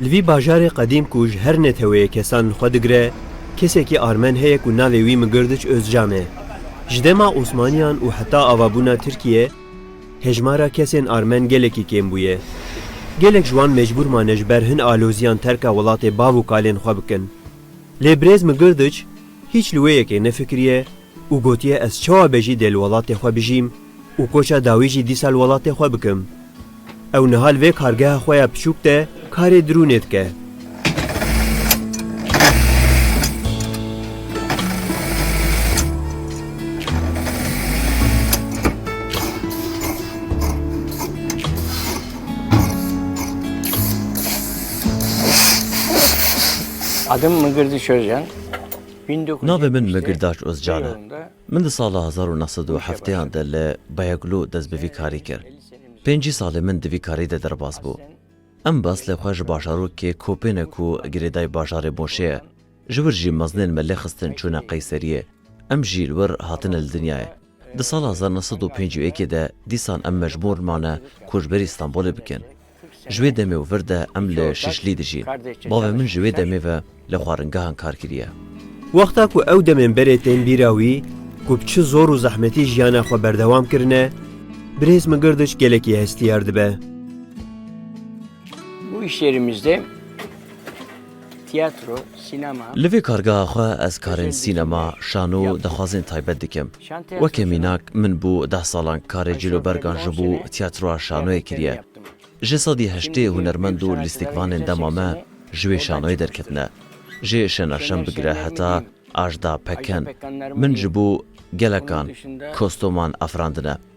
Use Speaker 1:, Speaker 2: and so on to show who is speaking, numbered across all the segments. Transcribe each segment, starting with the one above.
Speaker 1: Li vî bajarê qedîm ku ji her neteweyê kesan li xwe digire, kesekî armen heye ku navê wî Migirdiç Ozcan e. Ji dema Osmaniyan û heta avabûna Tirkiyê hejmara kesên armen gelekî kêm bûye. Gelek ji wan mecbûr mane ji ber hin aloziyan terka welatê bav û kalên xwe bikin. Lê birêz Migirdiç hîç li wê yekê nefikiriye, û gotiye ez çawa bejî dê li welatê xwe bijîm û koça dawî jî dîsa li welatê xwe bikim. Ew niha li vê kargeha xwe ya piçûk de karê dirûnê dike.
Speaker 2: Adım Mıgırdı Çözcan. Navê
Speaker 3: min Migirdaç Ozcan e. Min di sala hezar û neh sed û hefteyan de li Bayaglu dest bi vî karî kir. Pêncî salê min di vî karî de derbas bû. Em beslê xwe ji başarokê Kopêne ku girêdayî bajarê Moşê ye. Ji wir jî mezinên me lê xistin çûne Qeyseriyê. Em jî li wir hatine li dinyayê. Di sala hezar neh sed û pênc û yekê de dîsan em mecbûr mane koçberî Stenbolê bikin. Ji wê demê û vir de em li Şişlî dijîn. Bavê min ji wê demê ve li xwaringehan kar kiriye. Wexta ku
Speaker 1: ew demên berê tên bîra wî ku bi çi zor û zehmetî jiyana xwe berdewam kirine, birêz min girdiş gelekî hestiyar dibe.
Speaker 2: Bu işlerimizde Tiyatro, sînema. Li vê kargeha xwe
Speaker 3: ez karên sînema, şano, daxwazên taybet dikim. Weke mînak min bû deh salan karê cîlobergan ji bo tiyatroa şanoyê kiriye. Ji sedî heştê hunermend û lîstikvanên dema me ji wê şanoyê derketine. Ji Şenaşem bigire heta Ajda Pekkan min ji bo gelekan kostoman afirandine.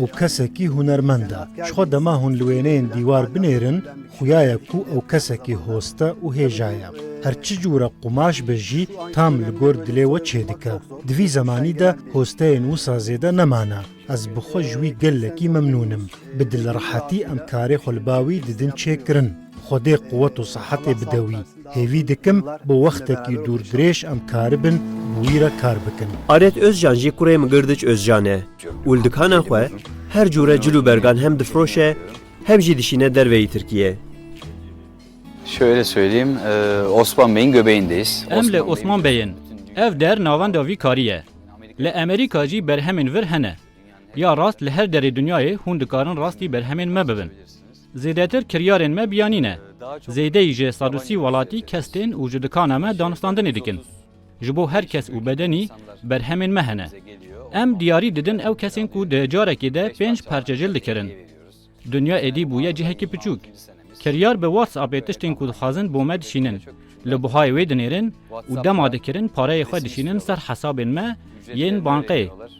Speaker 4: Ew kesekî hunermend e. Ji xwe dema hûn li wêneyên dîwar binêrin, xuya ye ku ew kesekî hoste û hêja ye. Her çi cûre qumaş be jî tam li gor dilê we çêdike. Di vî zemanî de hosteyên wisa zêde nemane. Ez bi xwe ji wî gelekî memnûn im. Bi dilrehetî em karê xwe li ba wî didin çêkirin. Xwedê quwet û sehetê bide wî. Hêvî dikim bi wextekî dûrdirêj em karibin bi wî re kar bikin. Aret Ozcan jî
Speaker 1: kurê Mgirdiç Ozcan e û li dikana xwe her cûre cil û bergan hem difiroşe hem jî dişîne derveyî Tirkiyê.
Speaker 5: Şöyle söyleyeyim, Osman Bey'in göbeğindeyiz. Em li Osman Bey
Speaker 6: in. Ev der navenda vî karî ye. Li Amerîka jî berhemên vir hene. Ya rast li her derê dinyayê hûn dikarin rastî berhemên me bibin. Zêdetir kiryarên me biyanî ne. Zêdeyî ji Sadûsî welatî kes tên û ji dikana me danûstandinê dikin. Ji bo her kes û bedenî berhemên me hene. Em diyarî didin ew kesên ku di carekê de pênc parçe jil dikirin. Dinya êdî bûye cihekî piçûk. Kiryar bi WhatsAppê tiştên ku dixwazin bo me dişînin, li buhayê wê dinêrin û dema dikirin pareyê xwe dişînin ser hesabên me yên bankê.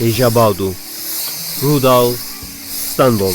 Speaker 1: Hêja Bawdû, Rûdal, Stenbol.